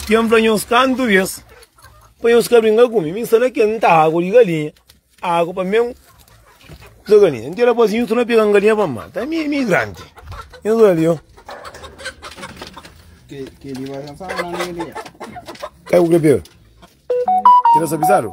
Ken fla nhos kantu bês pa nhos ka brinka ku mi. Mi sta na ken, N ta agu di galinha. Agu pa mi é un kuza di galinha. N tira pa si, nhos torna pega-m galinha pa N mata. Mi é migrante. Nhos oja li, ô. Kel. Ka é bu ka pega? Ki ta sa pisadu?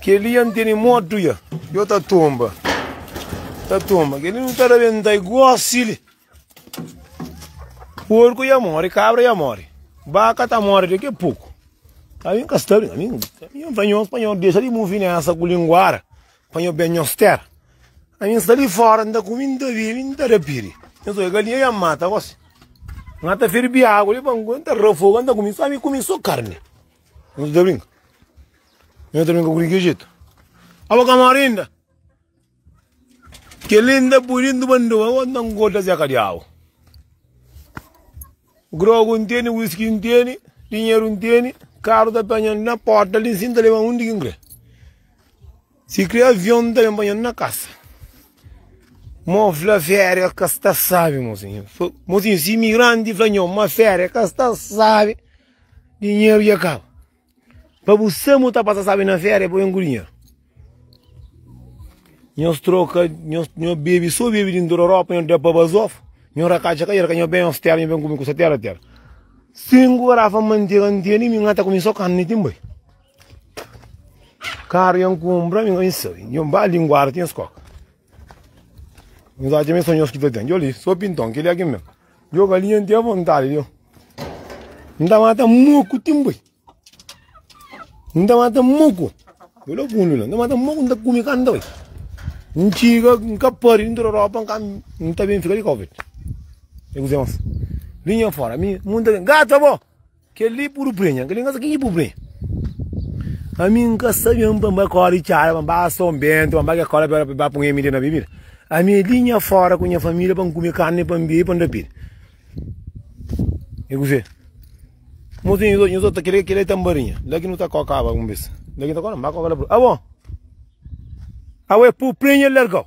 Kel-li N tene motu ya Yo ta tonba Ta tonba Kel-li nu ta rabenta i gosi li Porku ya mori Kabra ya mori Baka ta mori daqui a pouco A mim ka sta bem A mim N fla nhos pa nhos dexa di muvi nessa ku linguara Pa nhos ben nhos tera A mim sta li fora N ta kumi N ta bibi N ta da piri Nhos oja galinha ya N mata gosi N ata ferbi agu li pa N ta ra fogu N ta kumi N ta kumi so karni Nhos nu ta brinka? Nhos nu ta brinka ku di ke jetu? Abo ka mori inda? Keli nda pui dintu bandu, abo nta ngodja zeka diabu. Grogu N teni, wiski N teni, dinheru N teni, karu ta penha na porta li si N ta leba undi ki N kre. Si kre avion N ta ben panha-m na kasa. Mo fla feria ka sta sabi mosinhu. Mosinhu si imigranti fla nhos ma feria ka sta sabi. Dinheru dja kaba Pa bu samu ta pasa sabi na fera e pa ben ku dinheru Nhos troka, nhos nho bebe so bebe dintu da ropa nho da pa bazof Nho raka dja ka dja raka nho ben ostera nho ben ku mi ku satera tera Sinku garafa mantega N tene mi ngata ku mi so kanni ti N bai Karu nha N kunbra mi ka bin sabi Nho ba linguada ti nhos koka Nhos atxa ma e so nhos ki ta ten Djoli so pinton kel-li a ken ben Djo galinha n ten vontade djo. N ta mata moco tim boi. N ta mata moco. Boi la fundo la. N ta mata moco n ta come canta boi. N txiga n ka pari n tra ropa n ka n ta bem fica di covid. É coze mas. Linha fora. Mi munta gato bo. Kel-li puru prenha. Kel-li N ka sabe kenha ki puru prenha. Ami N ka sabe ami pa N bai kóre di txada, pa N bai asa un béntu, pa N bai kes kóla pa bai pun MD na bebida. Ami é li nha fóra ku nha família pa N kume karni, pa N bebe, pa N rapida. E ku fé? Mo ta inda nhos ota kel-li, kel-li é tanbarinha. La ki nu ta kókaba un bes. La ki nu ta kókaba, N bai kóka la puru. Abo! Abo é puru prenha el larga-u.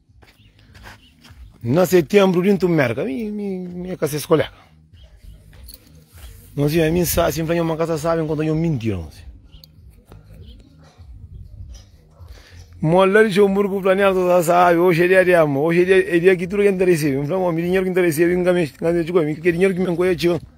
Na setembro dintu merka, mi, mi, mi ka ses kolega. Nós ia mim sa, assim, falei, uma casa sabe quando eu mentira, nós. Mola de Jomburgo planeado toda sabe, hoje é dia de amor, hoje é dia, é dia que tudo que interessa, eu falei, meu dinheiro que interessa, eu engamei, engamei, que dinheiro que me encoia, tio.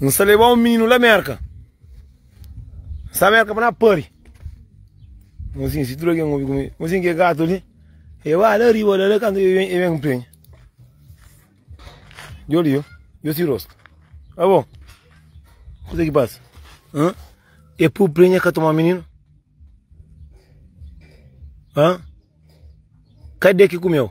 N sta lebá un mininu la Mérka. N sta Mérka pa na pari. Fla asin, si tudu algen obi ku mi, fla asin, Ke gatu li? E ba la riba la, la kantu e ben ku penha. Jo li, jo, jo si rostu. Abo, kusa ki pasa? Hã? E pui penha ka toma mininu? Hã? Kade ki kumeu?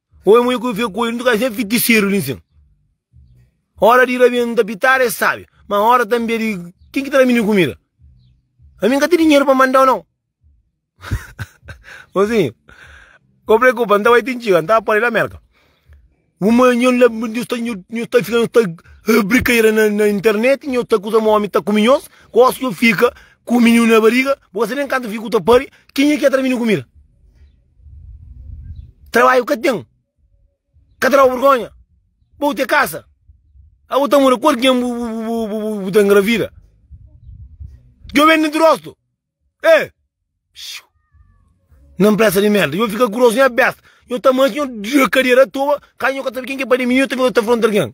Oi mui ku fe koi nu ka se fitiseru nin sin ora di rabia nu ta pitara es sabi ma ora tanbe di kin ki ta da mi kumida ami nka ti dinheru pa mandau nau mozinhu ko preokupa nta bai tin txiga nta ba podi la merka un manha la nhos ta nhos ta fika nhos ta brikadera na internet nhos ta kuza ma omi ta kumi nhos gosi nhos fika ku miniu na bariga bo ka sabe nen kantu figu ta pari kinha ki ya ta da mi kumida. Trabaiu ka ten, ka ta daba burgonha, bou te kasa, abo ta mura ku algen bu ta ngravida, djo ben dintru rostu e xiu na mpresa di merda, djo fika grosu nha besta, djo ta manxi djo dira kadera toba, ka djo ka sabi ken ke pai di mininu djo ta fika ta fronta algen.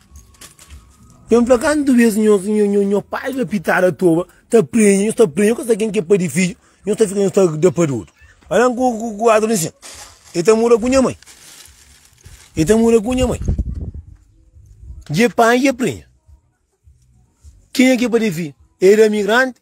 Jon fla, Kantu bês nho pai ta pita Aratoba, ta prenha, nhos ta prenha, nhos ka sa ken ki é pai di fidju, nhos ta fika nhos ta da pa di otu. Alén ku Artur diz sin, E ta mora ku nha mai, e ta mora ku nha mai, dje panha, dje prenha. Kenha ki é pai di fidju? Ê da migranti?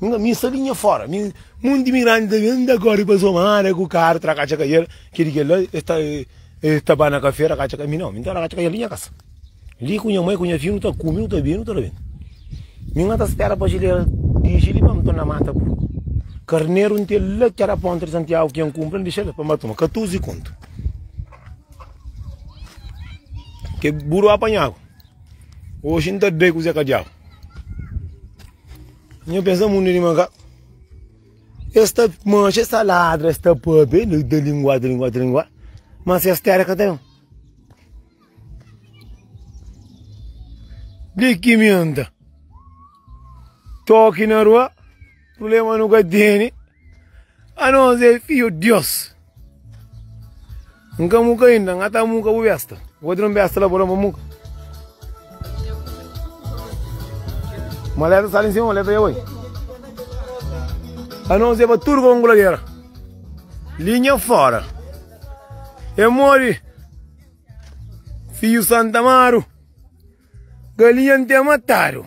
Nunka mi sa di nha fora mi munti mi grandi ta ben ta kori pa somada ku karu tra katxa ka el ki di kela es ta es ta ba na kafe ra katxa ka mi nau mi ta ra katxa ka el di nha kasa li ku nha mai ku nha fia nu ta kumi nu ta bebi nu ta rabenta mi nga ta spera pa jilera dixi li pa mi torna mata purku karneru nte la ki era ponta di santiagu ki N kunpra N dixa la pa mi ba tuma katuzi kontu ke buru apanhagu. Oxi N ta doi kuzé ka diabu Nha pensa mundu di maka Es ta manxa, es ta ladra, es ta pâpia E li ta lingua, ta lingua, ta lingua Mas kes téra ka ta ben Di ki mi N ta toki na rua Prubléma nu ka tene Anos é fiu Dios. N ka muka ainda, n ata muka bu besta. Wodi nun besta la bola ma muka. Uma letra sale em cima, uma letra ia oi. Anos é para tudo com goladeira. Linha fora. É mole. Fio Santa Amaro. Galinha não tem mataro.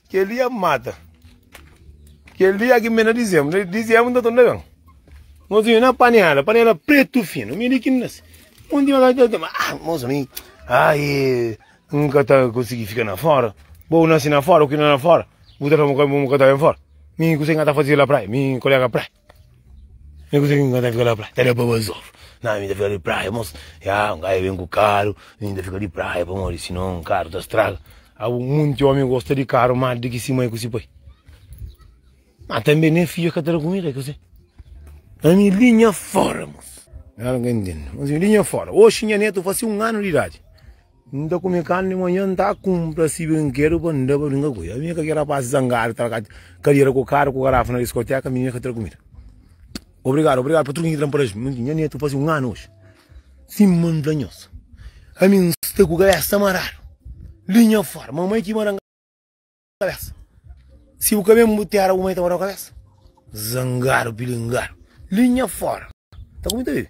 Kel-li é mata. Kel-li â ki N ben na dizê-bu. Na dizê-bu N ta torna ben. Nos vive na panela, panela pretu finu. Mi li ki N nase. Un dia m'avê ta fla, Ah, moza, mi ai N ka ta konsigi fika na fóra. Bo nase na fóra, bu krê na fóra. Bu ta fla ma bu ka ta ben fóra. Mi kuzê ki N ka ta faze la praia? Mi kolega praia. Nunka sei kin ta fika la praia, ta da pa bazóf Nah, mi ta fika di praia mos Ya, un gaju ben ku karu Mi ta fika di praia pamodi sinon karu ta straga Abu monti omi gosta di karu más di ki si mai ku si pai Má tanbe ne fidju ka ta da kumida, kuzê? Ami linha fóra mos Nha nétu faze un anu di idadi N ta kume karni di manhan, N ta kunpra si brinkedu pa N da pa brinka ku el Ami ka ke rapasi zangadu ta tra kadera ku karu ku garafa na diskoteka Ami ka tra kumida Obrigadu, obrigadu pa tudu ke N tra Paraju N nha netu fasi un anu oji Sima N ta nhosu Ami N sta ku kabesa maradu Linha fora Mamai ki mara-m kabesa Si bu ka ben bu tera bu mai ta mara-u kabesa Zangadu pilingadu Linha fora Ta ku mi ta bibi?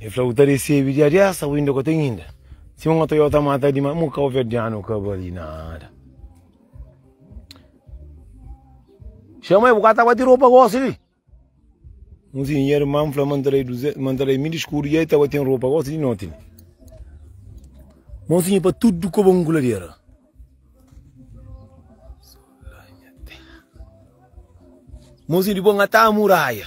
El fla, Bu ta resebe dia des au inda ka ten inda? Si un otu yota mata dimas, mu kauverdianu ka bali nada. Chama el, bu ka ta bati ropa gosi li? Un sin irman fla, man ta dai duzentus, man ta dai mil skudu, ya i ta bati ropa gosi di noti li. Mon sinha, pa tudu koba un kuladera. Mon sinha, dipos n'ga ta muraia.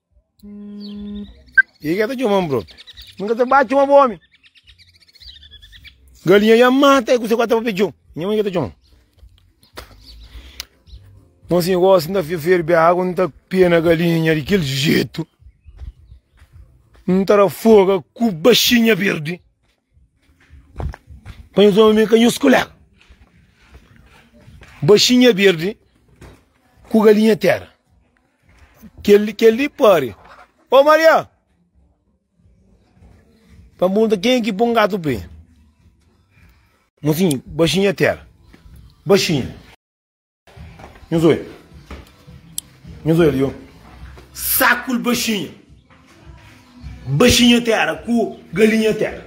E ka ta txoma-m bro. N ka ta ba txoma bo omi. Galinha ya mata, e ku se ku a ta ba pe txon. Nha mãe ka ta txoma-m. Mon si gosi n ta ferbe agu, n ta pena galinha di kel jetu. N ta da foga ku baxinha berdi. Pa nhos ome mi ka nhos kulega Baxinha berdi ku galinha tera Kel-li, kel-li pari Ô Maria Pa n punta kenha ki pon gatu penha Mosinhu, baxinha tera Baxinha. Nhos oi. Nhos oi ali, ó. Sakul baxinha. Baxinha terra ku galinha terra.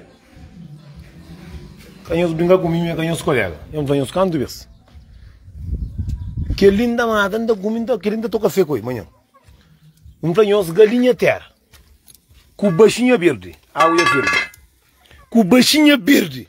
Ka nhos bringa ku mim, ka nhos kolega. Nhos fala nhos kantu bes. Kel linda mata, nda kumi, nda kiri, nda toka fekoi, manhã. Nhos fala nhos galinha terra ku baxinha birdi. Awi ya firmi. Ku baxinha birdi.